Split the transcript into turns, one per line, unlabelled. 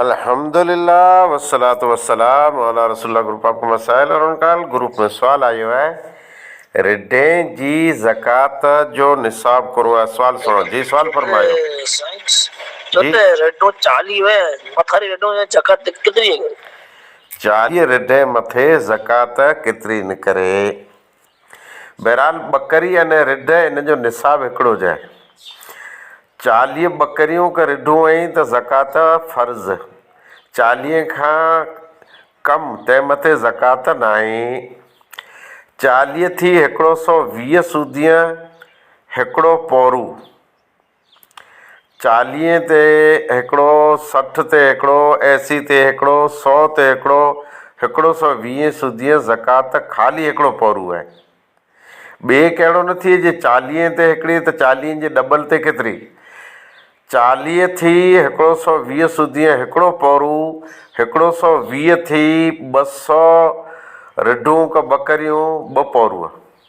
الحمدللّٰه والصلوة والسّلام علی رسول اللّٰه group of مسائل اور ان کا حل گروپ ۾ سوال آيو آهي رڍين جي زڪوات جو نصاب ڪورو آهي سوال سڻو جي سوال فرمايو جي رڍون چاليهه
مٿا ري رڍون جي زڪوات ڪيتري نڪري چاليهه
رڍين مٿي زڪوات ڪيتري نڪري. بهرحال ٻڪري ۽ رڍ ان جو نصاب هڪڙو جي آهي. چاليهه ٻڪريون ڪه رڍون هئين ته زڪوات فرض. چاليهه کان ڪم تنهن مٿي زڪوات ناهي. چاليهه ٿي هڪڙو سئو ويهه سودينء هڪڙو پورو. چاليهين تي هڪڙو، سٺ تي هڪڙو، ايسي تي هڪڙو، سؤ تي هڪڙو، هڪڙو سؤ ويهين سودينء زڪوات خالي هڪڙو پورو آهي. ٻيء کي اهڙو نه ٿئي جي چاليهين تي هڪڙي ته چاليهين جي ڏبل تي ڪيتري. چاليهين ٿي هڪڙو سؤ ويهين سودينء هڪڙو پورو، هڪڙو سؤ ويهين ٿي ٻه سؤ رڍون ڪه ٻڪريون ٻه پورو.